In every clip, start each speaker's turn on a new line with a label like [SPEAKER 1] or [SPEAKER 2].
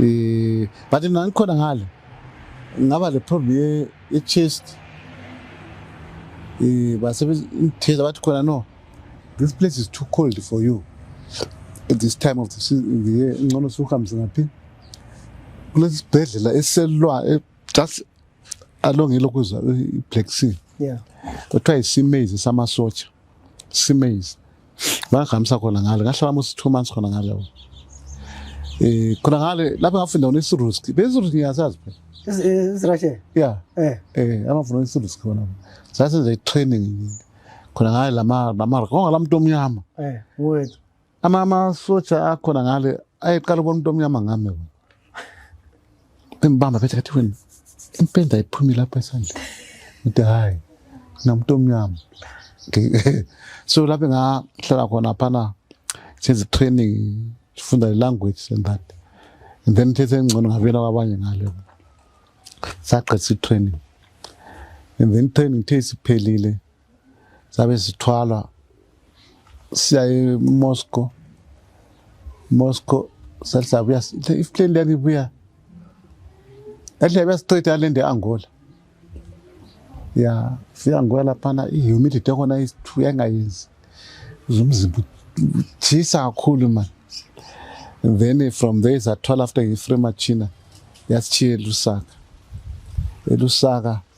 [SPEAKER 1] eh but mina ngikhona ngale ngaba le problem ye, ye chest eh basebenza imtheza bathi khona no this place is too cold for you at this time of the season the year ngcono suhambise ngaphi kulesi sibhedlela eselwa e- just along elokuzwa i-black sea yeah kuthiwa
[SPEAKER 2] isimezi
[SPEAKER 1] samasotsha simaze ngahambisa khona ngale ngahlala musi two months khona ngale um eh, khona ngale lapho ngafunda khona isiruski besiruski ngiyasazi phela isirashe
[SPEAKER 2] ya
[SPEAKER 1] eh. eh, amafuna isiruski khona sasenza i-training khona ngale lamakonga la muntu omnyama
[SPEAKER 2] ama amasotsha
[SPEAKER 1] akhona ngale ayeqala ukubona umuntu omnyama ngami wena embamba phethe kathi wena impenda iphumi lapha esandleni ngithi hhayi namuntu omnyama so lapho ngahlala khona phana senze training sifunda i-language and that and then thethe engcono ngabuyela kwabanye ngale sagqisa i-training and then training the isiphelile sabe sithwala siya eMoscow Moscow salisabuya ifleni lani buya ehle besiqeda le nde Angola ya fika Angola laphana i-humidity yakhona yangayenzi umzimba utshisa kakhulu mani and then from there sathola after ngi-free machina yasitshiya elusaka elusaka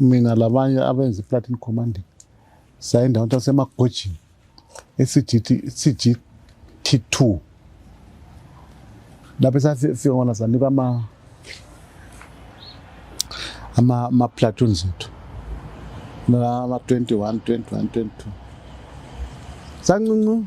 [SPEAKER 1] mina labanye abenza i-platin commanding saye ndawo tasemagojini esithi-cgt two lapho esafika ngona sanikwa ama-platoons ethu ama-twenty one twenty one twenty two sancinci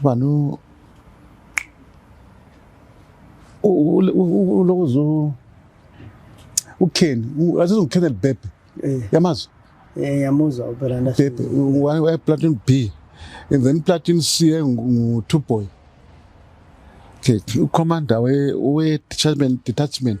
[SPEAKER 1] ubani u- u- u- u- ulokuze u- ukheni u- azize ukheni elibhebhe Eh, yamazwi eh, yamuzwa
[SPEAKER 2] ubhela nda. bhebhe
[SPEAKER 1] wayeplatin b and then platin c engu-two boy okay ucommander we-detachment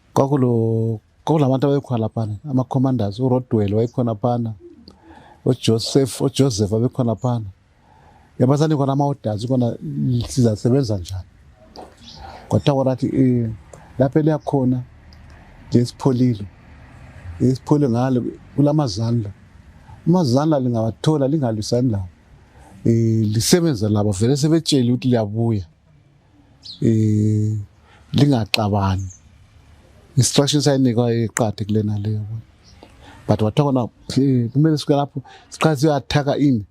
[SPEAKER 1] kwakulo kwakulabantu abekhona laphana ama-commanders urodwell wayekhona phana ujoseph ujoseph abekhona phana yabasani khona ama-orders khona sizasebenza njani kwathiwa kona athi eh, lapho eliyakhona nje sipholile isiphole ngalo kula mazandla amazandla lingawathola lingalwisani lawo um lisebenza labo vele sebetshele ukuthi liyabuya eh lingaxabani instruction sayinikwa iqadi kulena leyo but wathoka na eh, kumele sike lapho siqale siyathaka ini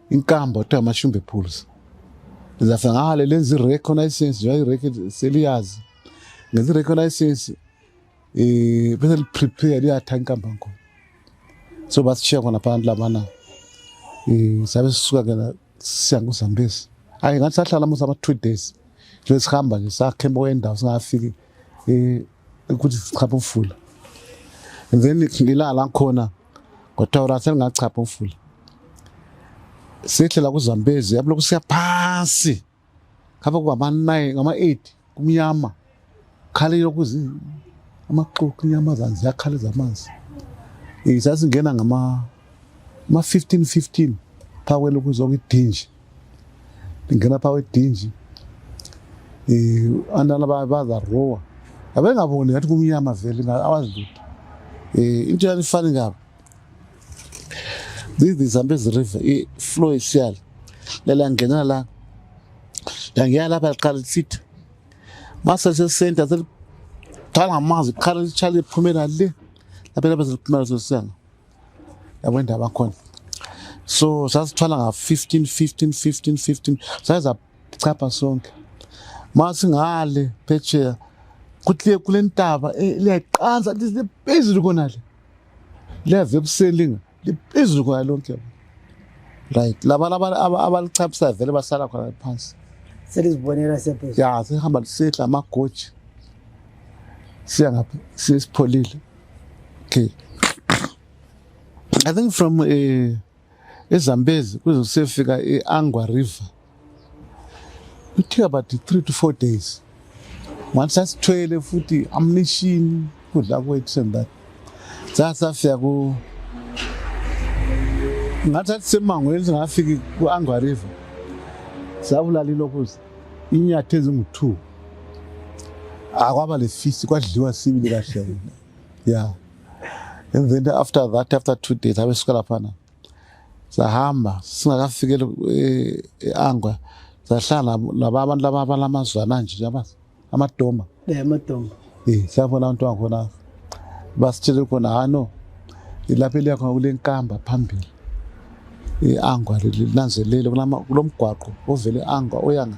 [SPEAKER 1] inkambo kuthiwa amashumbe pools zafa ngale lenza i-reconnaissance njengoba i-record seliyazi ngenza i-reconnaissance eh bese li prepare liyatha inkamba ngoma so basishiya khona phansi labana eh sabe sisuka ke la siya kuZambezi ayi ngathi sahlala musa ama 2 days nje sihamba nje sakhemba kwendawo singafiki eh ukuthi sichapha umfula and then ngilala khona ngothora sengachapha umfula sehlela kuZambezi yabuloko siya phansi ngapha kwama-nine ngama-eight kumnyama khala ilokuzi amaxoki inyamazane ziyakhala ezamanzi zazingena ngama-fifteen fifteen phaa kwelokuzi okuyidinji lingena phaa kwedinji um antana bazarowa abengaboni ngathi kumnyama vele awazi lutho um into yalifani ngabo This is Zambezi River, i-flow isiyala. Lela ngena la. Yangiya lapha liqala lisithi. Mase sesenta selithala ngamanzi, liqala litshala liphumela le. Lapha lapha seliphumela sesiyana. Yabo indaba khona. So sasithwala nga 15 15 15 15 saza chapha sonke. Mase ngale phetsheya kuthi kule ntaba eh, liyayiqansa liphezulu kona le. liyaze ekuseni liphezulu khona lonke right laba abalichaphisayo vele basala khona phansi selizibonela
[SPEAKER 2] sephezulu ya sehamba lisehla
[SPEAKER 1] amagoji siya ngapha sesipholile okay i think from a eh, ezambezi kuze kusefika i-angwa river it took about three to four days once asithwele futhi amnishini kudla kwethu and that sasafika ku ngathi athi semangweni singafiki ku-angwa river sabulala ilokuza inyatha ezingu-two akwaba le fisi kwadliwa sibili kahle yeah and then after that after two days abesuka laphana sahamba singakafikeli eh, e-angwa e sahlala laba abantu laba abalamazwana nje yabazi amadoma eh amadoma
[SPEAKER 2] eh sabona
[SPEAKER 1] abantu wakhona basitshele khona ha no ilapho eliya khona kule nkamba phambili i-angwa eh, linanzelele kulomgwaqo ovele angwa oyanga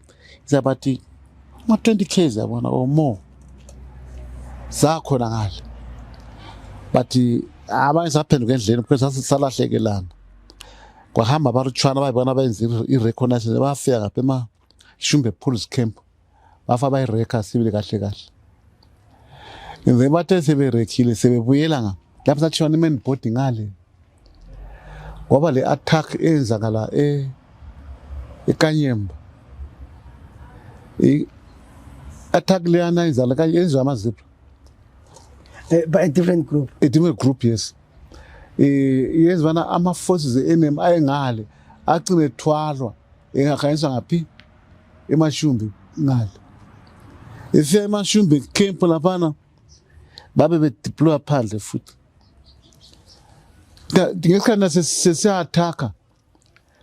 [SPEAKER 1] It's about the ma 20 k's yabona or more zakhona ngale but abanye saphenduka endleleni because sasalahlekela kwahamba abaruchwana bayibona benza i-reconnaissance bafika ngapha emashumbe pools camp bafa bayireka sibili kahle kahle ngize bathe seberekhile sebebuyela nga lapho sathiwa ni-man body ngale ngoba le attack eyenzakala e eKanyemba i attack leyana yenzala kanye yenziwa amazipho
[SPEAKER 2] eh, by a different group a different group yes
[SPEAKER 1] eh yenziwa ama forces enemy ayengale agcine thwalwa engakhanyiswa ngaphi emashumbi ngale ifika emashumbi camp laphana babe bedeploya phandle futhi ngesikhathi na sesiyathakha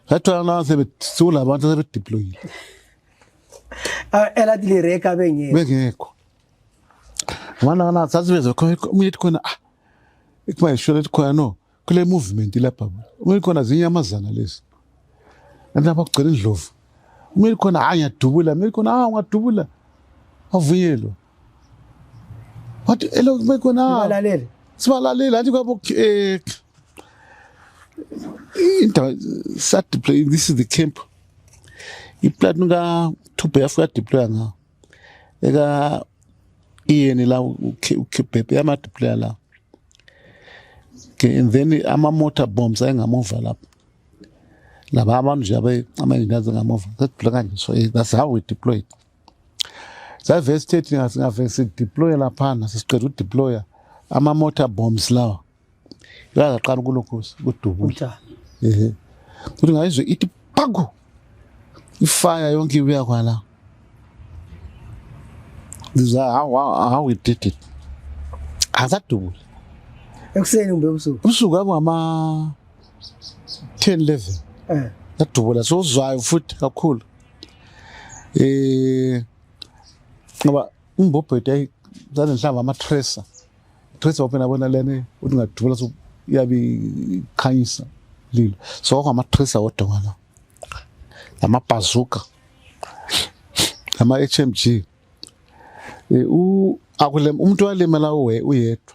[SPEAKER 1] sathola nase siwulabantu asebedeployile ah,
[SPEAKER 2] elathi lireka bengekho bengekho
[SPEAKER 1] ngibona kana sasiveze omunye ethi khona ah ikuba yisholo ethi khona no kule movement lapha omunye khona zinyamazana lezi kanti lapha kugcela indlovu omunye khona hayi ngiyadubula omunye khona hayi ungadubula avunyelwa What elokhu bekhona balalele sibalalele anti
[SPEAKER 2] kwabo eh
[SPEAKER 1] indaba sa deploy this is the camp iplan ka thubhe yafika deploy nga eka iyeni la ukhibhebhe yama deploy la and then ama motor bombs ayengamuva lapho laba abantu nje abe ama-engineers ngamuva sedeploy kanje so eh, that's how we deployed Save sithethe ngingafike sideploye laphana sesiqeda udeploya ama-motor bombs lawa yakaqala ukulokhosa kudubula ehe kuthi ngayizwe ithi paku ifaya yonke ibuya kwala ngiza how, how, how we did it asadubula
[SPEAKER 2] ekuseni kumbe ubusuku ubusuku abungama 10 11
[SPEAKER 1] eh. yadubula sozwayo futhi kakhulu Eh ngoba imbobhedo yayi zane nhlamba ama tracer. Tracer open abona lene uthi ngadubula so yabi khanyisa lilo. So kwama tracer wodwa wala. Lama bazooka. Lama HMG. Eh u akulem umuntu walemela uwe uyedwa.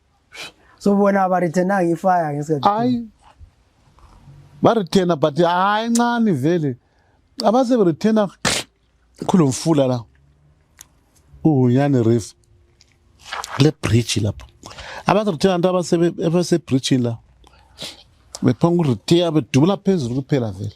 [SPEAKER 1] so
[SPEAKER 2] bona ba returna ngi fire ngesikhathi hayi
[SPEAKER 1] ba returna but hayi ncane vele abase ba returna khulu mfula la uhunyane reef le bridge lapho abase returna nto abase abase bridge la bephanga urithiya bedubula phezulu kuphela vele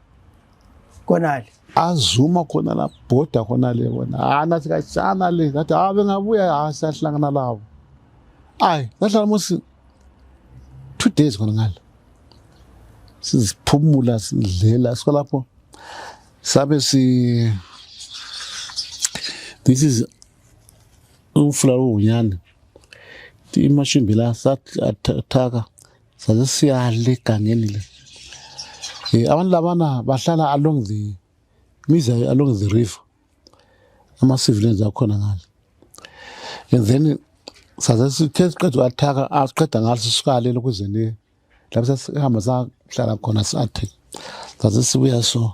[SPEAKER 2] konale azuma
[SPEAKER 1] khona la bhoda khona le wona hayi nathi kashana le ngathi hayi bengabuya hayi siyahlangana labo ayi ngahlala musi two days khona ngale siziphumula sidlela siko lapho sabe si this is umfula wonyane imashimbi la sathaka saze siyale egangeni le um abantu labana bahlala along the miza along the river ama-civilians akhona ngale and then saze sithe siqeda uathaka asiqeda ngalo sisukalele ukuze ne lapho sasihamba sahlala khona sathi saze sibuya so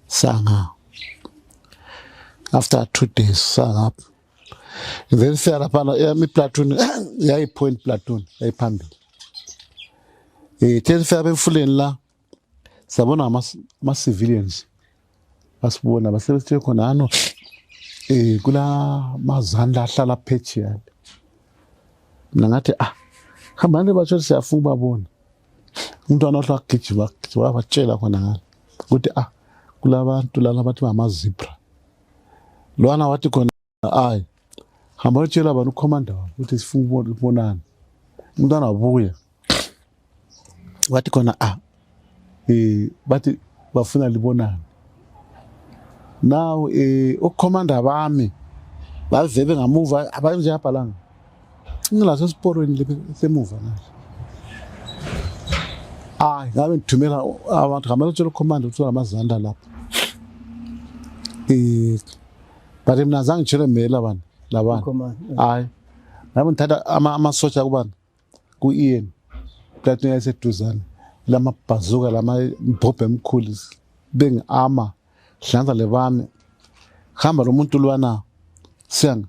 [SPEAKER 1] sanga after two days sangapha then siya laphana eyami iplatoon yayipoint platoon yayiphambili um eh, then siya bemfuleni la siyabona ama-civilians basibona basebesithe khona ano um eh, kula mazandla ahlala phejiyani mna ngathi ah hambani batsho siyafuna ubabona umntwana ohle wagijima wabatshela khona ngalo ukuthi ah kulabantu lana bathi bamazibra lwana wathi khona ayi hamba yotshela abantu ukhomanda wabo ukuthi sifuna ukubonana umntwana wabuya wathi khona a ah, um bathi bafuna libonane now um eh, ukukhomanda bami bavebe ngamuva abanjeyabhalanga Ngilase siporweni lepe semuva manje. Hayi, ngabe ngithumela abantu ngamele utshela ucommand ukuthi unamazanda lapha. Eh but mina azange ngitshele mela bani labana. Hayi. Ngabe ngithatha ama amasotsha kubani? Ku Ian. Platinum yayiseduzane. Lama bhazuka lama mbhobhe emkhulu bengiama hlanza lebami hamba lo muntu lwana siyanga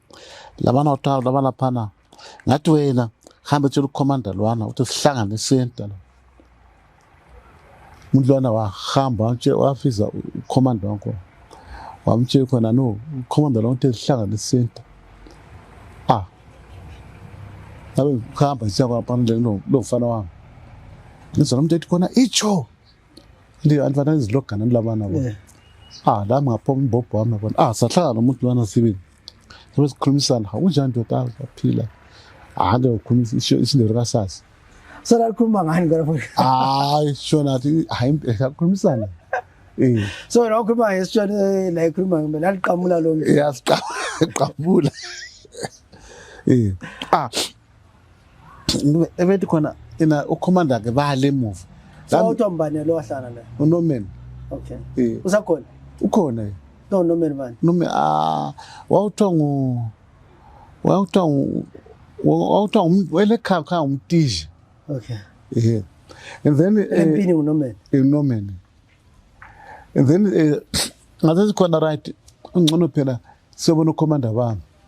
[SPEAKER 1] labana waqala laba laphana ngathi wena hambe tshela ukhomanda lwana ukuthi sihlangane senta la umuntu lwana wahamba wafiza ukhomanda wankhona wamtshela khona no ukhomanda lwana ukuthi sihlangane senta ah ngabe ngihamba siyakwapana lomfana wami ngizona umuntu ethi khona itsho ndi andvana izilogana nilabana bona eh. ah la mngaphoma umbhobho wami bona ah sahlala nomuntu lwana sibili sobe sikhulumisana ha unjani ndoda aphila ah ke ukhulumisa isindelo kasasa sona likhuluma
[SPEAKER 2] ngani ngona futhi hayi shona athi
[SPEAKER 1] hayi sakhulumisana eh
[SPEAKER 2] so wena ukhuluma ngesishona eh, la ikhuluma ngimbe laliqamula lo mntu yasiqamula
[SPEAKER 1] eh ah ebethi khona ina ukhomanda ke bale emuva sawuthwa mbane
[SPEAKER 2] lo wahlala la unomen okay
[SPEAKER 1] eh.
[SPEAKER 2] usakhona ukhona
[SPEAKER 1] no nomen
[SPEAKER 2] bani nome ah
[SPEAKER 1] wawuthwa ngu wawuthwa ngu wawuthwa umuntu welekhaya khaya umtiji okay
[SPEAKER 2] eh and
[SPEAKER 1] then eh, empini unomen
[SPEAKER 2] unomen
[SPEAKER 1] and then eh, ngathi sikhona right ungcono phela siyobona ukhomanda bami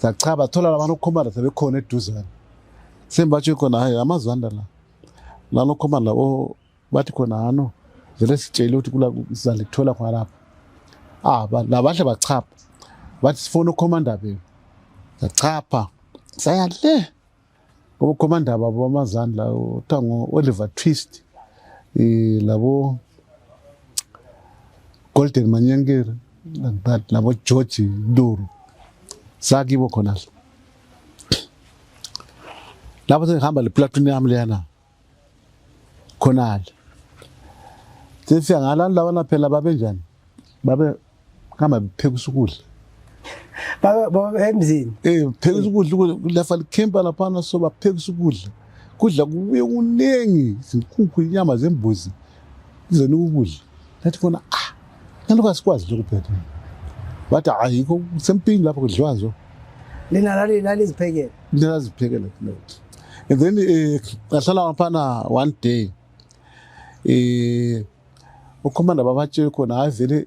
[SPEAKER 1] Zathi cha bathola labantu okhomanda sebekhona eduzane. Sembatshe khona hayi amazwanda la. Lalo khomanda o bathi khona hano vele sitshele ukuthi kula sizale kuthola khona lapha. Ah ba- labahle bachapha. Bathi sifona ukhomanda bebe. Zachapha. Saya le. Okhomanda babo bamazandla kuthiwa ngo-Oliver Twist um labo Golden Manyankere like that labo George Nduru sakibo khona lapho sengihamba le platoon yami leyana khonale sesiya ngalani labana phela babenjani babe kama phekusa ukudla
[SPEAKER 2] baba emzini eh phekusa ukudla
[SPEAKER 1] lafa likhempa laphana so baphekusa ukudla kudla kubuye kuningi izinkukhu inyama zembuzi Kuze nikubuye. Nathi kona ah. Naloko asikwazi lokhu phethe. Bathi hayi kusempini lapho kudliwa zo. Lina lali
[SPEAKER 2] lali ziphekele. Lina lali
[SPEAKER 1] ziphekele. And then eh ahlala ngaphana one day. Eh ukhomanda babatshe khona hayi vele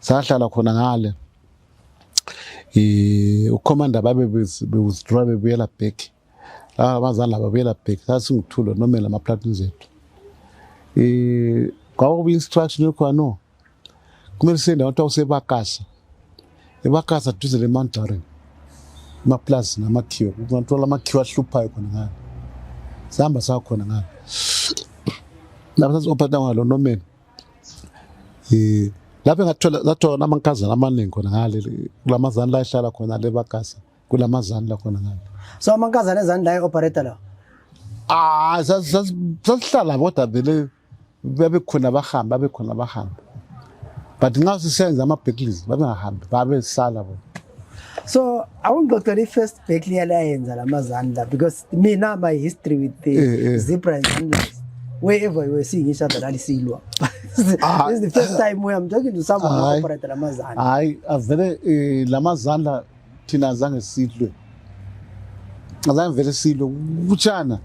[SPEAKER 1] sahlala khona ngale eh ucommander babe be withdraw bebuyela back laba abazali laba buyela back sasinguthulo nomela ama platoon zethu eh kwakuba instruction yokuba no kumele sende abantu awusebakasa ebakasa duze le Mount Darren amaplazi namakhiwa kungathola amakhiwa ahluphayo khona ngale sihamba sakhona ngale lapho sasophatha ngalo nomela eh lapho ngathola ngathola amankazana amaningi khona ngale kulamazana la ehlala khona le bagasa kulamazana la khona ngale so amankazana ezani
[SPEAKER 2] la eoperator la ah
[SPEAKER 1] sasihlala bodwa vele babe khona bahamba babe khona bahamba but nxa sisenza ama-backlist babengahambi babesala bona so
[SPEAKER 2] awungixoxela i-first back liyala yenza la mazandla because mina my history with the eh, eh. zebra and zandlas wherever you were seeing each other lalisilwa ah, this is the first time where i'm talking to someone who operated la mazandla hayi avele
[SPEAKER 1] eh, la mazandla thina azange sidlwe azange vele sidlwe kutshana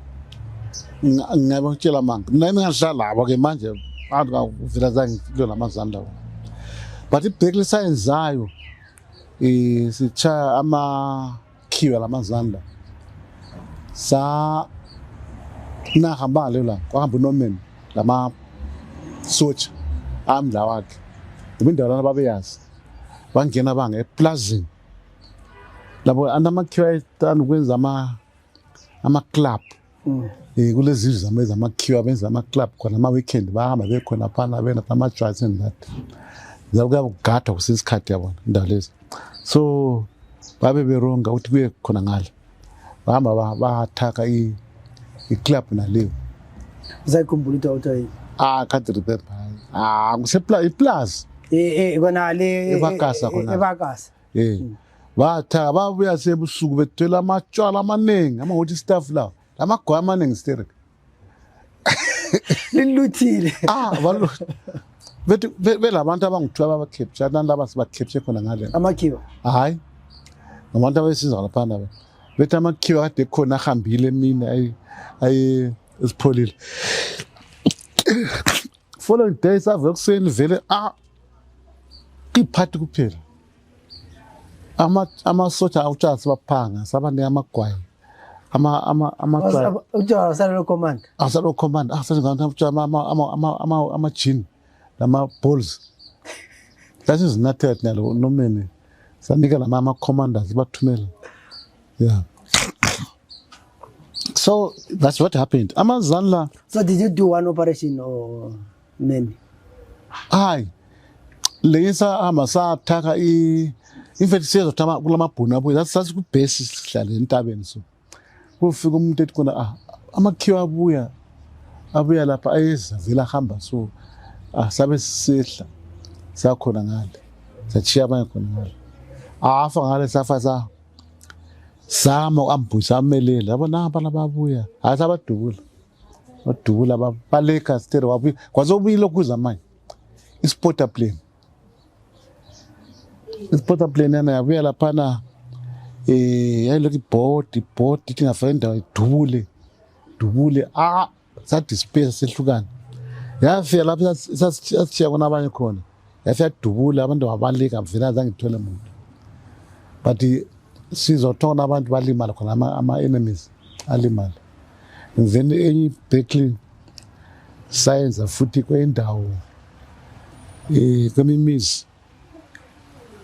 [SPEAKER 1] ngingaba ngitshela manga mina ngingahlala ke manje abantu kavela zange sidlwe la mazandla but ibheki lisayenzayo sitshaya amakhiwa lamazanda sa nahamba leyo la kwahamba unorman lama sotsha amndla wakhe ngoba indawo lana babeyazi bangena banga eplazini labo anamakhiwa ethanda ukwenza ama-club Mm. Eh kulezi izwe zama zama queue abenza ama club khona ama weekend bahamba bekhona phana bena ama drugs and that. Zakuya kugada kusisikhathi yabona indawo lezi. So babe beronga ukuthi kuye khona ngale. Bahamba bathaka i i club naleyo. Uzayikhumbula
[SPEAKER 2] into awutha yini? Ah can't
[SPEAKER 1] remember. Ah kusepla iplaza. Eh eh kona
[SPEAKER 2] le ebakasa kona.
[SPEAKER 1] Ebakasa. Eh.
[SPEAKER 2] Batha
[SPEAKER 1] babuya sebusuku bethwele amatshwala amaningi ama hot staff lawo. Lamagwa amaningi sterek.
[SPEAKER 2] Liluthile. Ah, balo.
[SPEAKER 1] Bethi belabantu abangithiwa baba capture abantu laba siba capture khona ngale. Amakhiwa. Hayi. Ngabantu abesiza lapha nabo. Bethi amakhiwa kade khona ahambile mina ayi ayi isipholile. Following day save ekuseni vele ah iphathi kuphela amasosha ama utshani sibaphanga sabanika amagwayi
[SPEAKER 2] amasalocommand
[SPEAKER 1] amajini nama-balls sasizinathela thina lo nomene sanika lama ama-commanders bathumela yeah so that's what happened amazanla so did you do one
[SPEAKER 2] operation or nini
[SPEAKER 1] hayi leyisa hamba sathakha i in fact siyezothama kulamabhunu abuye that's that's ku base sihlale entabeni so kufika umuntu ethi kona ah amakhiwa abuya abuya lapha ayezavela hamba so ah sabe sisihla sakhona ngale sachiya abanye khona ngale afa ngale safa sa sama uambuyisa amelele yabona abana babuya hayi sabadubula wadubula babaleka stere wabuya kwaze ubuyile okuza manje isporter plane isporter plane yana yabuya laphana um eh, yayilokhu ibhodi ibhodi ithi ngafaka indawo idubule dubule a ah, sadispeya sehlukana yafika lapho sasishiya kona abanye khona yase yadubula abantu babalika vele azange ngithole muntu but sizothola abantu balimala khona ama-enemies alimala then enye ibacklin sayenza futhi kwendawo um eh, kwemimizi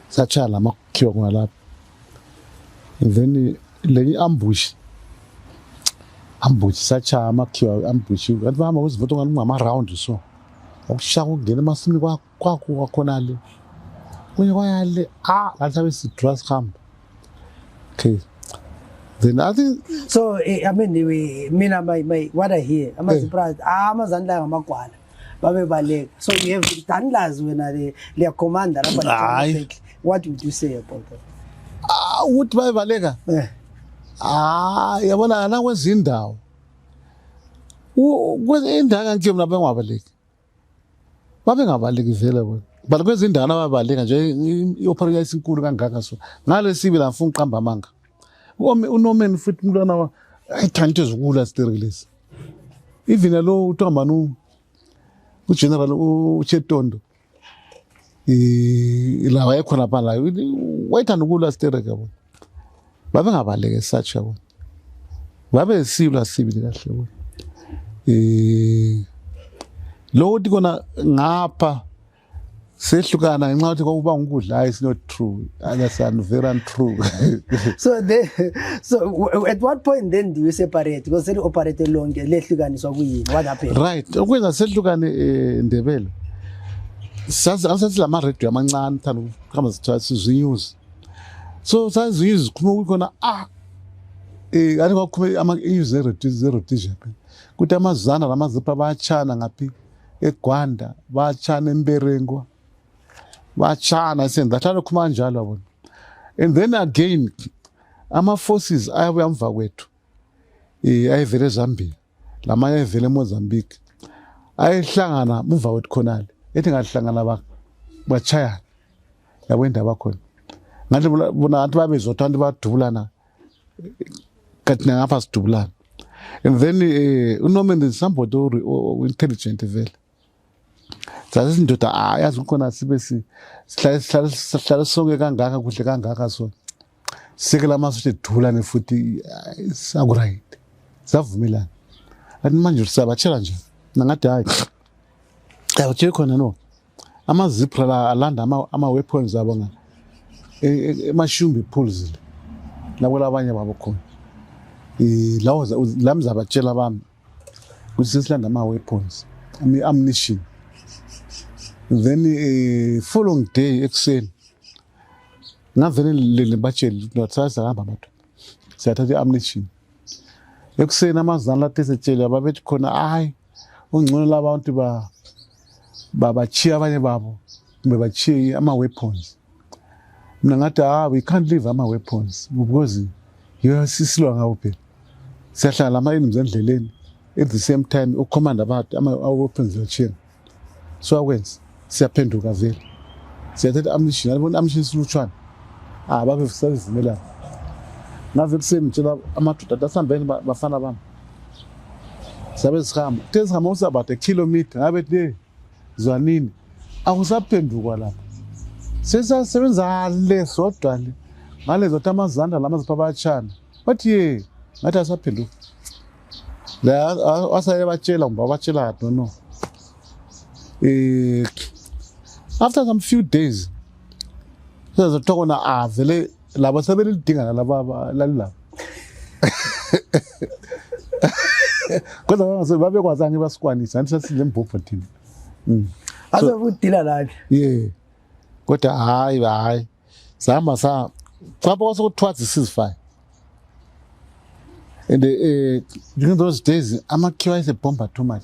[SPEAKER 1] satshaya la makhiwa khona lapho then lenye i-ambush ambush satshaya amakhiwa ambush kanti bahamba kuzimoto ngani kungama-round so wakushaya kungena emasimini kwakho kwakhona le kunye kwaya le a ah, ngathi abe sidura sihamba okay then i think so eh, i mean
[SPEAKER 2] we, mina my, my what i hear amazipraz eh. ah, amazani layo ngamagwala babebaleka so you have danlazi wena le liyakhomanda lapha what would you say about that ah, ukuthi
[SPEAKER 1] babebaleka eh. ah yabona nakwezindawo indanga nje mina bengabaleki babengabalekezela bona but kwezindawo nababaleka nje i-opera yayisinkulu kangaka so ngalesibi la ngifuna uqamba amanga unomeni futhi umntwana wa ayithanda into ezukula sterilesi even lo uthiwa mani ugeneral uchetondo la wayekhona pha la wayethanda ukulwa sterek yabona babengabaleke such yabona babe silwa sibili kahle yabona um lokho ukuthi kona ngapha sehlukana ngenxa yokuthi kwakuba ngukudla hhayi sinot true other
[SPEAKER 2] son very untrue so they so at what point then do you separate because they operate lonke lehlukaniswa kuyini what happened right ukwenza sehlukane
[SPEAKER 1] eh, ndebele sazi asathi lama radio amancane thanda ukuhamba sithatha sizwe news so sazi news khuma kukhona ah eh kanti kwakhuma ama news zero zero tija kuthi amazana lamazipa bayachana ngaphi egwanda bayachana emberengwa batshana i said that alokhu manjalo yabona and then again ama-forces ayabuya mva kwethu um ayevele ezambia lamanye ayevele emozambique ayehlangana mumva kwethu khonale ethi ngahlangana bachayana yabo indaba khona ngathi bona ngathi babezotha abantu badubulana kanti nangapha sidubulana and then um eh, unorman is somebody o-intelligent vele zazi izindoda hayi azi ukhona sibe sihlale sonke kangaka kuhle kangaka so sike la masotsha edulane futhi sakuryt savumelana athi manje siyabatshela nje nangathi hayi abatsheli khona no amazipra la alanda ama-weapons abo nga e, e, emashumbi ephuluzile nakwelabanye babo khona um lawo la mzabatshela bami kusesilanda ama-weapons ammunition then uh, following day ekuseni ngavele ngibatshele ukuthi ndathatha hamba abantu siyathatha i-ammunition ekuseni amazana lathi esetshele ababethi khona hayi ungcono labantu babachiye abanye babo kumbe bachiye ama-weapons mina ngathi ah we can't leave ama weapons because yiyo sisilwa ngawo phela siyahlala ama-enemies endleleni at the same time ukukhomanda abantu ama-weapons lacheni so akwenza siyaphenduka vele siyathatha amnishin alibona amnishin silutshwana ah babe sazivumelana ngaze ekuseni ngitshela amadoda athi asihambeni bafana bami sabe sihamba kuthe sihamba usabade kilometer ngabe le zwanini akusaphendukwa lapho sesasebenza le sodwa le ngalezo ukuthi amazanda lama zipha abatshana bathi ye ngathi asaphenduka la asaye batshela ngoba batshela kade no um after some few days sezothiwa kona avele laba sebelidinga nalaba lalilaba kodwa bangase babekwazi ange basikwanisa anti sasile mbhobho thina mm.
[SPEAKER 2] azokudila lake ye kodwa
[SPEAKER 1] hayi hayi sihamba sa caba kwase kuthiwa zisizifine and uh, during those days amakhiwa ayesebhomba too much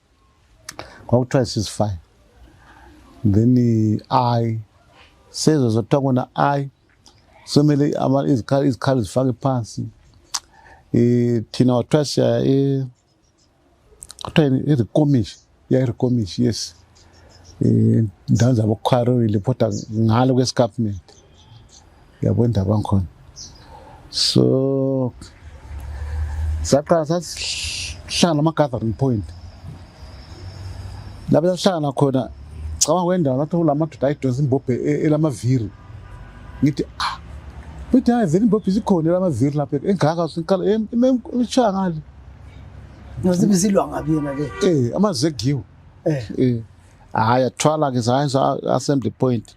[SPEAKER 1] kwakuthiwa she's fine then i sezwe zothiwa kona i somele izikhali zifake phansi um thina wathiwa siya um kuthiwa yini irikomishi yairikomishi yes um ndawo zabokhwarowile kodwa ngalo kwesikapument yabo indaba ngikhona so saqala sasihlala ama-gathering point lapho sasihlangana khona cabanga kwendawo lathi kulamadoda ayidonsa imbobhe e, elamaviri ngithi ah futhi hayi vele imbobhe isikhona elamaviri lapho engaka siqala imshaya ngale
[SPEAKER 2] nozibisilwa ngabi yona le eh amazegiwe
[SPEAKER 1] eh, eh. hayi athwala ke hayi assembly point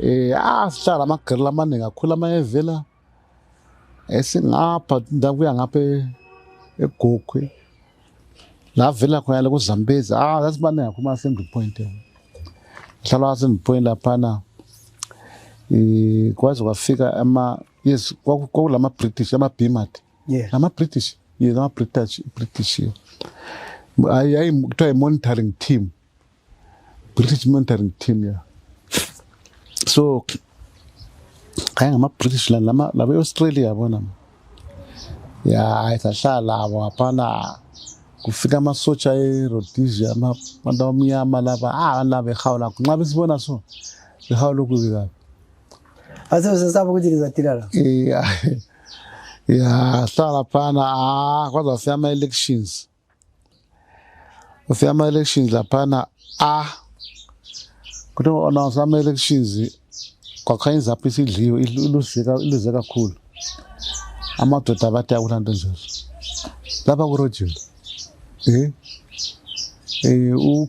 [SPEAKER 1] eh asihlala ah, amagirila amaningi akhula ama evela esingapha ndawo kuya ngapha e-, egogwe la vela khona ku Zambezi ah sasibaningi akhuma assembly point ngihlala assembly point laphana eh kwaze kwafika ama yes kwakulama British ama Bimati yeah. ngama British yes ngama British British ayi ayi kuthiwa i monitoring team British monitoring team yeah so ayi ngama British la lama laba Australia yabona ya ayi sahlala abo hapana kufika amasotsha eRhodesia abantu abamnyama laba ah laba ehawula nxa besibona so behawula okubi kabi Ase
[SPEAKER 2] usesaba ukuthi ngizadila la. Yeah. Yeah,
[SPEAKER 1] hlala phana ah kwaza fika ama elections. Ufika ama elections laphana ah. Kuthi ona sama elections kwakhanya izaphi isidliwe iluzeka iluzeka kakhulu. Amadoda abathi akulando nje. Lapha kurojile. Eh? Eh u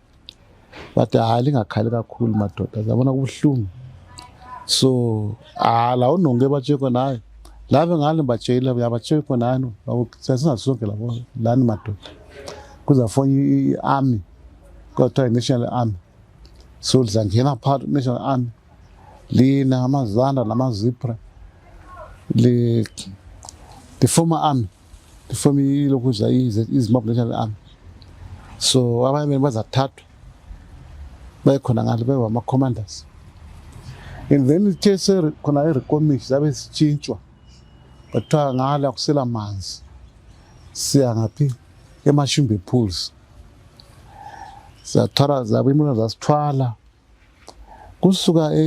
[SPEAKER 1] but hayi lingakhali kakhulu madoda zabona kubuhlungu so ah la unonge batsheko naye lave ngale batshela uyabatshela khona hano sasingazonke labo lani madoda kuzafona i-army kuthiwa i-national army so lizangena phakathi i-national army lina amazanda namazipra li-former army Ifom ilokhu iza izimbabwe national army so abayemeni bazathathwa baye khona ngale beba ama-commanders and then ithe khona irekomish zabe zitshintshwa bathiwa ngale akusela manzi siya ngaphi emashimbe pools sathwala zabo imona zasithwala kusuka e,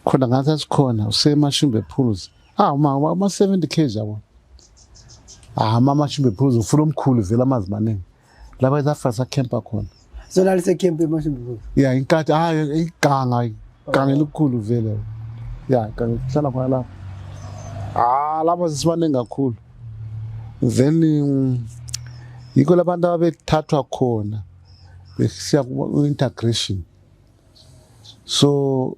[SPEAKER 1] khona ngathi asikhona usemashimbe pools Ah mama ama 70 kg yabo. Ah mama shimbe phuzu ufuna omkhulu vela amazi maningi. Laba zafa sa camper khona. So la lise camp
[SPEAKER 2] emashimbe phuzu. Yeah inkathi ah
[SPEAKER 1] iganga iganga elikhulu vela. Yeah iganga hlala khona lapha. Ah laba sisibaningi kakhulu. Then mm, yikho labantu ababethathwa khona besiya ku integration. So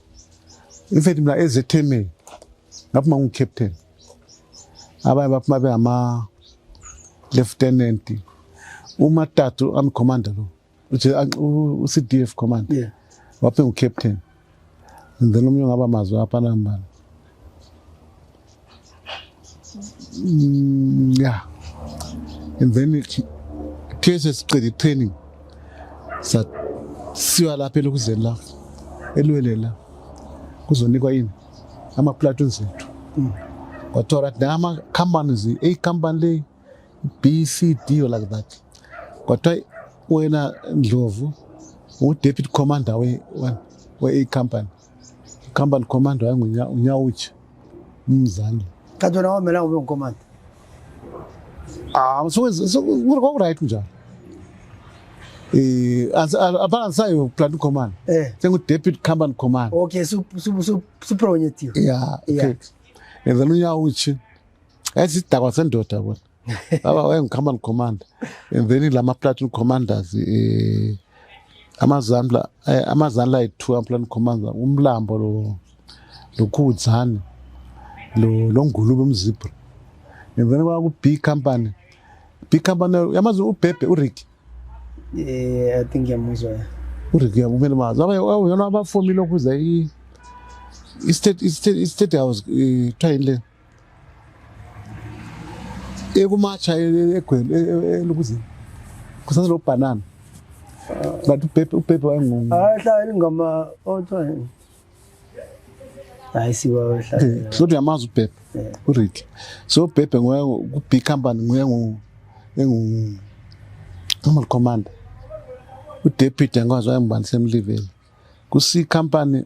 [SPEAKER 1] in fact mina ezethemeni ngaphuma ngu-captain abanye baphuma bengama-lieutenant umatatu amcommander lo u-cd f commander yeah. waphuma
[SPEAKER 2] ngu-captain
[SPEAKER 1] and then omunye ongaba mazwi apha nambala Mm, yeah. And then kuthiwe sesiqede i-training sasiwa lapha elokuzeni la elweleni la kuzonikwa yini ama-platon zethu mm. kwathiwa right na ama-companies eyi company le b c d or like that kwathiwa wena ndlovu u-deputy commander we-a company we company commander wayengunyawutshe umzali kanti wena wamela
[SPEAKER 2] ube ngucommander
[SPEAKER 1] um ah, kwakuright njalo eh, um apana ndisayo planting command eh. sengu-deputy company command okay
[SPEAKER 2] supronyetiwe ya
[SPEAKER 1] okay and then unyawutshe yayisidakwa sendoda kona baba wayengu-command commander and then la ma-platin commanders um eh, amazandla eh, amazandla ayi-two ama-platin commander umlambo lo lokhudzane lo longulube umzibra and then kwaku-b company b company yamazi ubhebhe urick eh,
[SPEAKER 2] i think yamuzwa ya urick yamumele
[SPEAKER 1] mazi yona abafomile okhuza i-state house kuthiwa yini le ekumatsha egwele e, e, e, elukuzini kusase lo banana but ubhebhe ubhebhe wayengungu ahlala ingoma
[SPEAKER 2] othiwa hayi siwa ohlala eh, kodwa uyamazi ubhebhe
[SPEAKER 1] eh. urit so ubhebhe nguye ku-big company nguye engu normal commander udeputy angikwazi wayengubani semliveli kusi company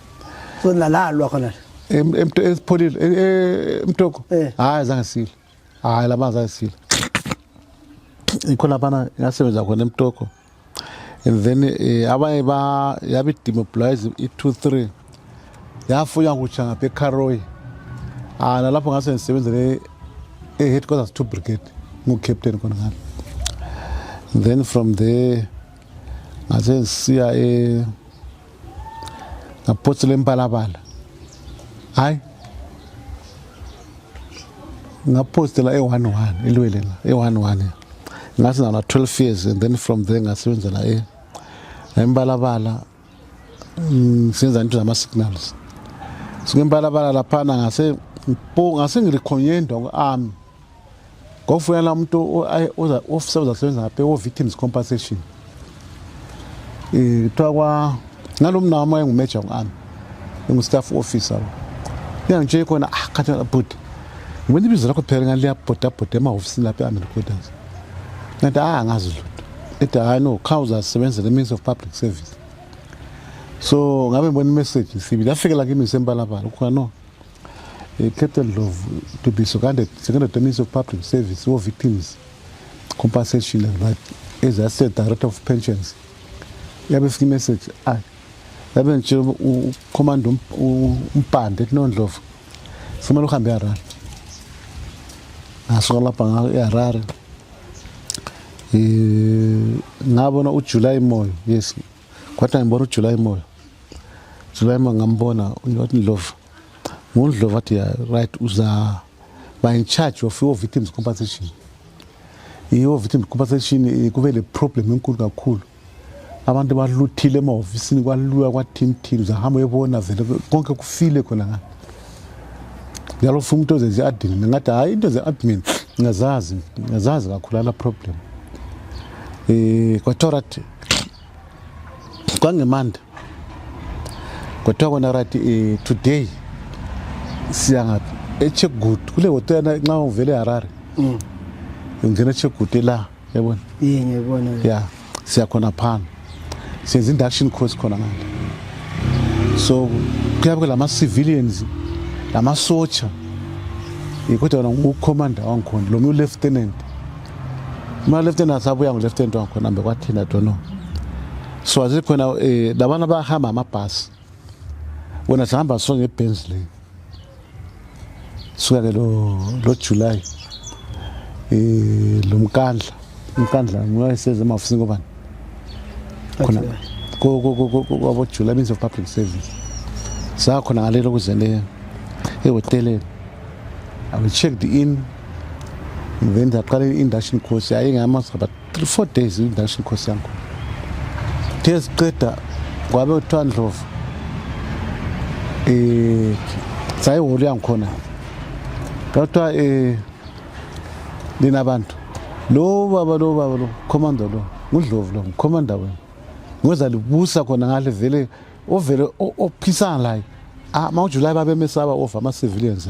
[SPEAKER 1] so
[SPEAKER 2] nalalwa khona esipholile
[SPEAKER 1] e, e, emtoko eh. hayi zange sile hayi labantu zange sile ikho laphana ngasebenza khona emtoko and then eh, abanye ba yabe demobilize i-two three yafuya kutsha ngapha ecarroy ah nalapho ngase ngisebenzele e-headquarters two brigade ngu-captain khona ngalo then from there ngase ngisiya e ngaphotsi lempalapala hayi ngaphostela e-one one ilwele la e-one one ngase nala 12 years and then from there ngasebenza la e empalapala mm, senza into zama signals sikempalapala laphana ngase mpo ngase ngilikhonyendwa ku-army ngokufuna la muntu ofisa uzasebenza ngaphe wo-victims compensation um kuthiwa kwa ngalo mna wami wayengumeja ku-ami engu-staff officer ngiyangitsheye khona ah khathi bhuti ngibona ibizo lakho phela ngani liyabhodabhoda emahofisini lapho e-ami recorders ngathi ah angazi lutho ethi hayi no kha uzasebenza le means of public service so ngabe ngibona imessage sibili afike la kimi ngisempalapala ukhona no Eh, Captain Ndlovu to be seconded seconded terms of public service or victims compensation but as I said director of pensions yabe fika message ay yabe nje ucommand um, umpande kuno Ndlovu simele uhambe eHarare ngasuka lapha ngayo eHarare eh ngabona uJuly Moyo yes Kwathi ngibona uJuly Moyo. July Moyo ngambona uNdlovu Ndlovu. NguNdlovu athi yeah, right uza by in charge of your victims compensation. Iyo victims compensation eh, kube le problem enkulu kakhulu. Abantu baluthile emahofisini kwaluya kwathimthini uzahamba uyebona vele konke kufile khona ngani. Ngalo funa umuntu ozenze admin ngathi hayi into ze admin ngazazi ngazazi kakhulu ala problem. Eh kwathi kwangemanda kuthiwa kona right eh, today siya ngaphi echeckgood kule hotela nxa uvele harare mm. ngena echeckgood la yabona ya
[SPEAKER 2] siya
[SPEAKER 1] khona phana senza induction course khona ngale so kuyabe kulama-civilians lamasotsha kodwa wona ngucommander wangikhona lo mye ulieutenant Uma-left hand asabuya ngo-left hand wakhona mbe kwathina dono so asikhona um eh, labana bahamba amabhasi wena sihamba so ngebhenzi le suka ke lo julayi um eh, lo mkandla umkandla nguyayiseze emafusini kobani khona kwabojula means of public service sakhona ngalelo kuzele ehoteleni i will check the in then ndaqala i-induction course yayingamasa but three four days i-induction course yangu the ziqeda kwabe kuthiwa ndlovu um sayiholo yangikhona kwakuthiwa um eh, linabantu lo baba lo baba lo commander lo ngudlovu lo ngicommander wena ngoza libusa khona ngale vele ovele ophisana layo ah, ma ujulayi babemesaba ova ama-civilians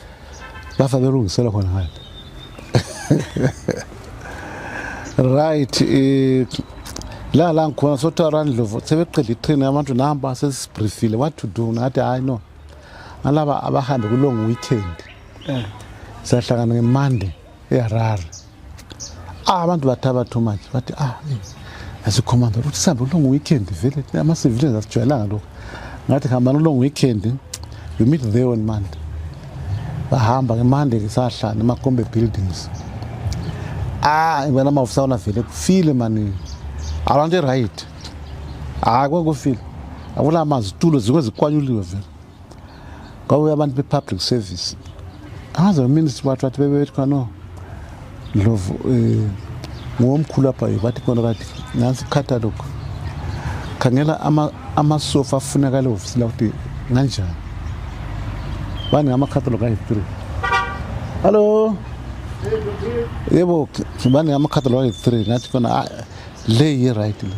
[SPEAKER 1] lapha belungisela khona ngale right eh, la la ngikhona sothiwa randlovu sebeqeda itrain abantu namba sesibriefile what to do ngathi hayi no alaba abahambe kulong weekend eh. siyahlangana ngemande eharare ah abantu bathaba too much bathi ah eh, as a commander uthi sihambe kulong weekend vele ama civilians asijwayelanga lokho ngathi hambani kulong weekend you meet there on monday bahamba ke monday ke sahlala emakombe buildings ah ngibona amavisa wona vele kufile mani abantu right hayi kwakufile akulama zitulo zikwe zikwanyuliwe vele kwakuye abantu be-public service angaze uminister wathi wathi bebebethi khona no ndlovu um eh, ngowomkhulu apha ye bathi kona kati nansi ikhatalog khangela amasofa afunakala ehofisini lakuthi nganjani bani ngamakhatalog ayi-three hallo yebo bani ngamakhatalog ayi-three ngathi kona ah, le yi-right le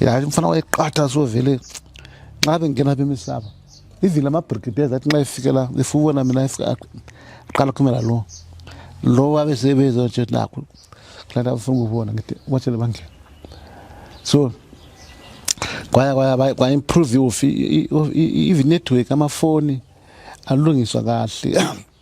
[SPEAKER 1] ya mfana wayeqatha so vele nxa bengena apha emisaba even la mabrigades athi nxa efikela efubona mina aqala khumela lo lo wabe sebezo nje nakho kulanda bafuna ukubona ngithi watshele bangena so kwaya kwaya kwa-improve i-network amafoni alungiswa kahle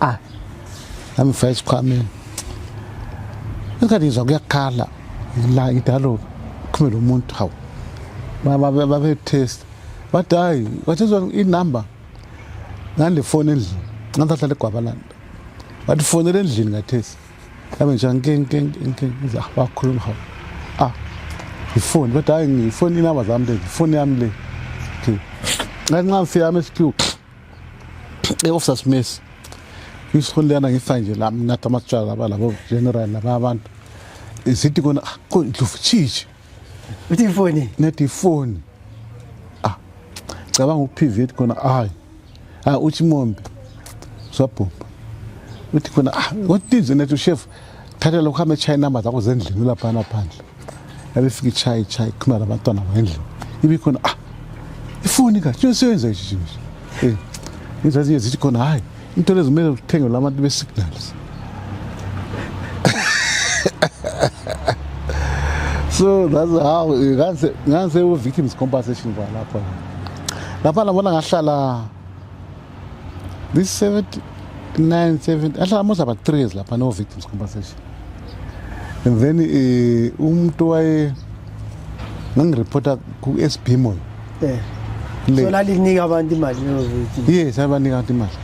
[SPEAKER 1] ah angifake isikhwameni ingathi ngizwa kuyakhala la idaloba kuphumele umuntu hawu babetest bathi hayi kwathezwa inumber ngale foni endlini ngathatha legwabalanda wathi fonela endlini ngathesi yabe nje nkenkenkenkenza wakhuluma hawu ah ifoni bathi hayi ngifoni inumber zami le ifoni yami le ngathi nxa ngifika ama-sq Hey Officer Smith. Ngisihulelana ngifa nje la mina tamatshwala laba labo general laba abantu. Isithi kona ah, ko ndlovu chichi. Uthi
[SPEAKER 2] ifoni. Nethi ifoni.
[SPEAKER 1] Ah. Cabanga uPV ethi kona hayi. Ah uthi mombe. Sabhubha. Uthi kona ah, what is it nethi chef? thatha lokhu hambe etshaye inamba zakho zendlini ulaphana phandle yabefika itshaye itshaye khuluma labantwana ngendlini ibikhona ah ifoni ka tshona seyenza ishi nje eh izinto ezinye zithi khona hayi into lezi kumele uthenge labantu be-signals so that's how ngangisewuve-victims compensation kwalapho lapha nabona ngahlala This 70, 9, 70, ahlala most about three years lapha no victims compensation. And then eh, umuntu waye ngangireporta ku-SB Moyo. Eh.
[SPEAKER 2] Le- So lalinika abantu imali no victim. Yes, abanika abantu imali.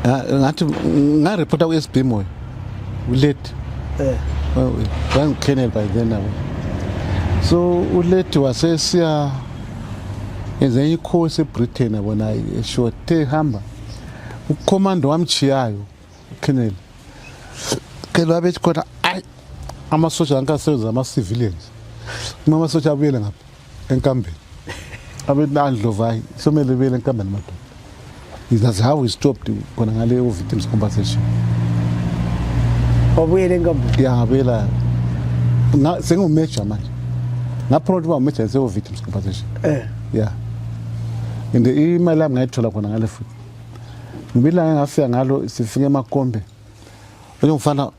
[SPEAKER 1] Ah, Ngathi ngareporta ku-SB Moyo. Ulate. Eh. Well, Thank Colonel by then now. So ulate wasesiya Ezenye ikhosi eBritain yabona eshiwo te hamba ukhomando wamchiyayo uKennedy kelo abethi khona ayi amasosha ankasebenza ama-civilians uma amasosha abuyele ngapha enkambeni abethi andlovu hayi somele buyele enkambeni madoda That's how we stopped khona ngale victims compensation.
[SPEAKER 2] Wabuyela enkampani? Ngiyabuyela.
[SPEAKER 1] Sengiwumajor manje. Ngaphromote uba umajor ngisewu victims compensation. Eh. Yeah. And imali yami ngayithola khona ngale futhi. Ngibila ngafika ngalo sifike emakombe. Oyo mfana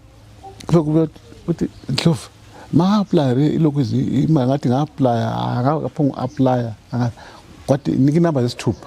[SPEAKER 1] kube kube uthi ndlovu ma-aplaya re ilokhu imali ngathi nga-aplaya akaphonga u-aplaya kwathi nika inamba zesithupha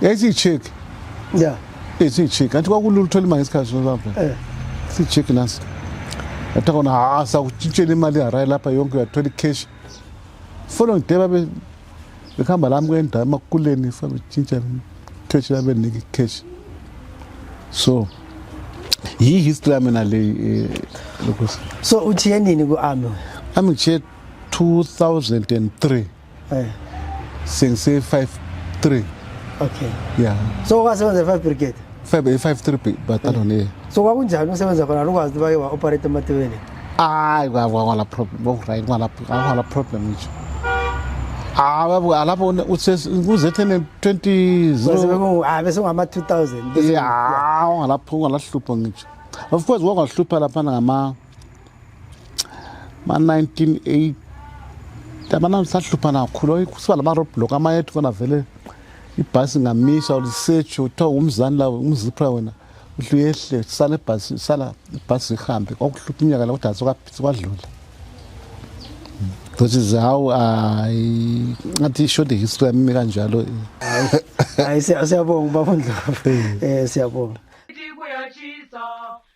[SPEAKER 1] Yesi chick. Yeah.
[SPEAKER 2] Yesi chick. Anti
[SPEAKER 1] kwakulula uthola imali isikhathi sozapha. Eh. Si chick nasi. Atha kona ha sa utshintshela imali hayi lapha yonke uyathola icash. Following day babe bekhamba lami kwendawo emakuleni fa betshintsha cash labe niki cash. So yi history yami na le eh, lokusa.
[SPEAKER 2] So uthi yenini ku army? Army 2003
[SPEAKER 1] Eh. Since 53. Okay.
[SPEAKER 2] Yeah. So
[SPEAKER 1] wasebenza 5
[SPEAKER 2] brigade? 5 53
[SPEAKER 1] battalion yeah. So kwakunjani
[SPEAKER 2] usebenza khona lokwazi baye wa operate ematewele? Hayi
[SPEAKER 1] kwala problem. Bo right kwala kwala problem nje. Hawu ah, lapho uzethe 20 ah bese ngama
[SPEAKER 2] 2000. Yeah,
[SPEAKER 1] lapho ngalahlupha ngisho. Of course kwakwahlupha lapha ngama ma-1980 abantu sahluphana kakhulu kusiba lama roadblock amanye ethi kona vele ibhasi ngamisa ulisetsho kuthiwa ngumzani lawo umzipha wena uhle uyehle sala ibhasi sala ibhasi ihambe kwakuhlupha unyaka la kodwa sikwadlula ngothi zawu hayi ngathi ishode history yami kanjalo hayi
[SPEAKER 2] siyabonga ubaba ndlovu um siyabonga Thank you.